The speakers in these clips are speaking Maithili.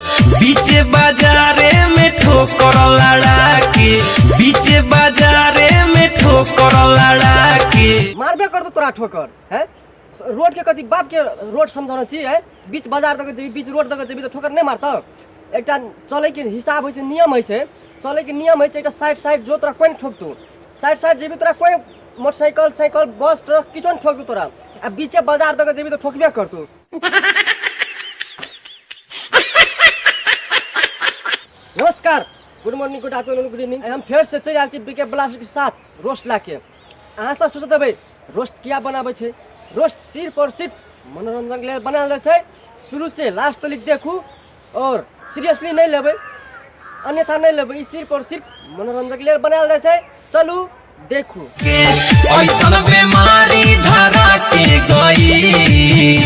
बीच बाजारे में ठोकर लड़ा के बीच बाजारे में ठोकर लड़ा के मारबे करतो तोरा ठोकर है रोड के कथी बाप के रोड समझाना छी है बीच बाजार दके जेबी बीच रोड दके जेबी तो ठोकर नहीं मारतो एकटा चले के हिसाब होय छै नियम होय छै चले के नियम होय छै एकटा साइड साइड जो तोरा कोन ठोकतो साइड साइड जेबी तोरा कोई मोटरसाइकिल साइकिल बस ट्रक किछो नहीं ठोकतो तोरा आ बीचे बाजार दके जेबी तो ठोकबे करतो नमस्कार good morning good afternoon good evening हम फेर से चलि आयल छी बीके ब्लास्ट के साथ रोस्ट ला के अहाँ सब सोचत हेबै रोस्ट किया बनाबै छै रोस्ट सिर्फ और सिर्फ मनोरंजन के लेल बनायल जाइ छै शुरू से लास्ट तक देखू और सीरियसली नहीं लेबे अन्यथा नहीं लेबे ई सिर्फ और सिर्फ मनोरंजन के लिए बनायल जाय छै चलू देखू ऐसन बेमारी धरा के गई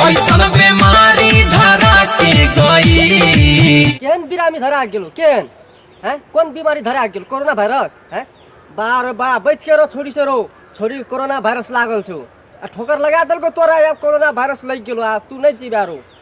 ऐसन बेमारी धरा के गई केहन बिरामी धरा गेलो केहन हैं कोन बीमारी धरा गेलो कोरोना वायरस हैं बार बा बच के रहो छोरी से रहो छोरी के कोरोना वायरस लागल छौ आ ठोकर लगा देलको तोरा आब कोरोना वायरस लग गेलो आ तू नहीं जीवा रहो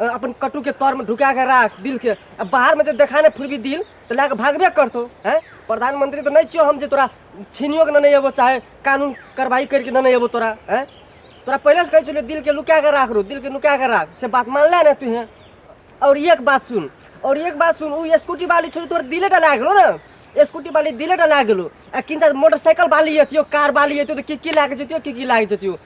अ, अपन कटु के तौर में ढुका के राख दिल के अब बाहर में जब देखा ना फिर भी दिल तो लाके भागबे करतो हैं प्रधानमंत्री तो नहीं छियो हम जे तोरा छीनियो के ना नहीं एबो चाहे कानून कार्रवाई करके ना नहीं एबो तोरा हैं तोरा पहले से कहे छलियो दिल के लुका के राख रो दिल के लुका के राख से बात मान ले ना तू हैं और एक बात सुन और एक बात सुन उ स्कूटी वाली छोड़ी तोर दिले डला गेलो ना स्कूटी वाली दिले डला गेलो आ किन मोटरसाइकिल वाली एतियो कार वाली एतियो तो की की लागे जतियो की की लागे जतियो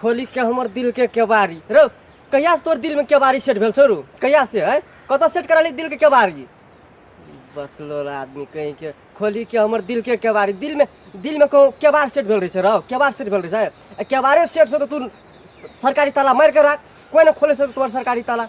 खोलि के हमर दिल के केवारी रो कहिया से तोर दिल में केवारी सेट भेल छौ रो कहिया से है कतऽ सेट करा ली दिल के केवारी बकलोल आदमी कहीं के खोलि के हमर दिल के केवारी दिल में दिल में कहूँ केवार सेट भेल रहे छै रौ केवार सेट भेल रहे छै आ केवारे सेट से तो तू सरकारी ताला मार के राख कोई ना खोले से तोर सरकारी ताला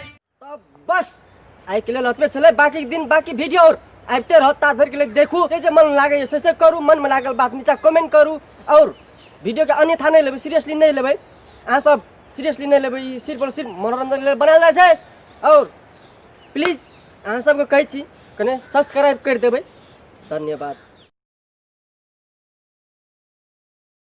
तब बस आइ के लेल ओतबे छलै बाकी दिन बाकी वीडियो और आबिते रहत ता धरि के लेल देखू जे जे मन लागैए से से करू मन में लागल बात नीचा कमेंट करू और वीडियो के अन्यथा नहीं लेबै सीरियसली नहीं लेबै अहाँ सब सीरियसली नहीं लेबै ई सिर्फ और सिर्फ मनोरंजन के लेल बनायल जाइ छै और प्लीज अहाँ सबके कहै छी कने सब्सक्राइब करि देबै धन्यवाद